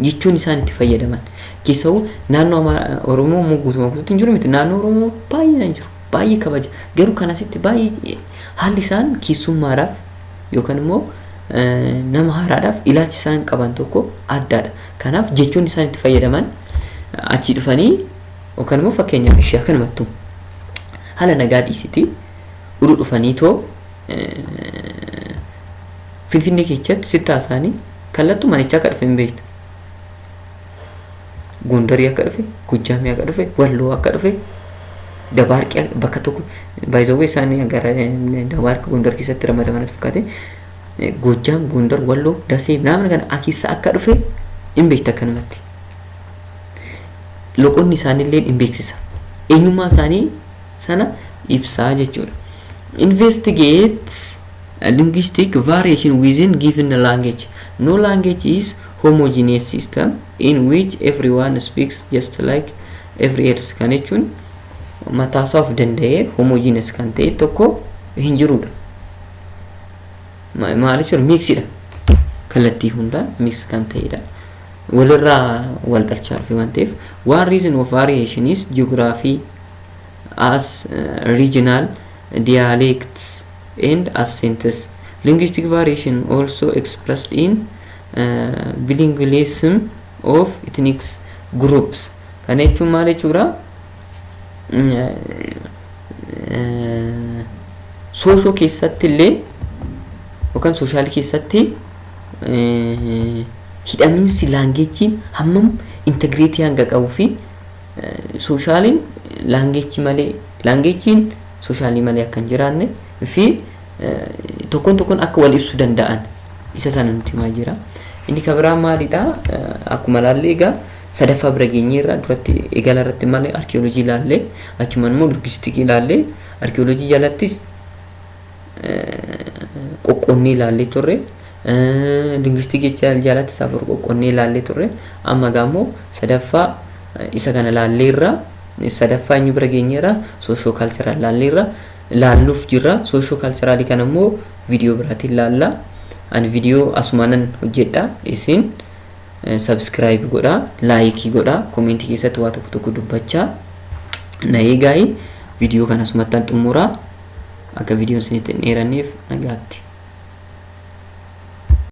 Jechoon isaan itti fayyadaman keessawuu naannoo Amaaraa Oromoo immoo guutumaa guutuutti hin jiru miti naannoo Oromoo baay'inaan jiru baay'ee kabaja garuu kan asitti baay'ee haalli isaan keessummaadhaaf yookaan immoo nama haaraadhaaf ilaalchi isaan qaban tokko addaadha. Kanaaf jechoon isaan itti fayyadaman achii dhufanii Yookaan immoo fakkeenyaaf ishii akkanumattuu haala nagaa dhiisitii udu dhufanii too Finfinnee keessatti sitti haasaanii kallattuu manicha akka dhufe hin beektu. Gondarii akka dhufe, Gojjaamii akka dhufe, Walloo akka dhufe, Dabaarqii akka- bakka tokko baay'isawwan isaanii gara Dabaarqii Gondar keessatti ramadaman as fakkaate Gojjaam, Gondar, Walloo, Dasee naamni kana akeessa akka dhufe hin beektu akkanumatti. loqonni isaaniillee hin beeksisa. Eenyummaa isaanii sana ibsaa jechuudha. Investigate linguistic variation within given language. No language is homogeneous system in which everyone speaks just like every else. Kan jechuun mataasaa of danda'ee homogeneous kan ta'e tokko hin jirudha. Maal jechuudha? Miiksidha. Kallattii hundaan miiks kan ta'edha. Walirraa wal dhalcha dhufe waan ta'eef. One reason of variation is geography as regional dialects and accents. Linguistic variation also expressed in uh, bilingualism of ethnic groups. Kana jechuun maal jechuudha? soosho keessatti illee yookaan sooshaal keessatti hidhamiinsi laangeechii hammam integreetii hanga qabuu fi sooshaaliin laangeechii malee laangeechiin sooshaalii malee akka hin jiraanne fi tokkoon tokkoon akka wal ibsu danda'an isa sana nuti himaa jira. Inni kan biraa maalidha? Akkuma ilaallee egaa sadaffaa bira geenyeerra. Duratti eegala irratti maal arkiyoolojii ilaalle, achumaan immoo logistikii ilaalle, arkiyoolojii jalattis qoqqoonnee ilaallee turre. Linguistikii jalattis afur qoqqoonnee ilaallee turre. Amma egaa immoo sadaffaa isa kana ilaalleerra. Sadaffaa eenyu bira geenyeerra? Soosho kaalcharaal ilaalleerra. Ilaalluuf jirra. Soosho kaalcharaalii kana immoo viidiyoo biraatiin ilaalla. Ani viidiyoo asumaanan hojjedha. Isin Subscribe godhaa, like godhaa, comment keessatti waa tokko tokko dubbachaa na eegaayi. Viidiyoo kana asumattan xumuraa akka viidiyoon isinitti hin dheeranneef nagaatti.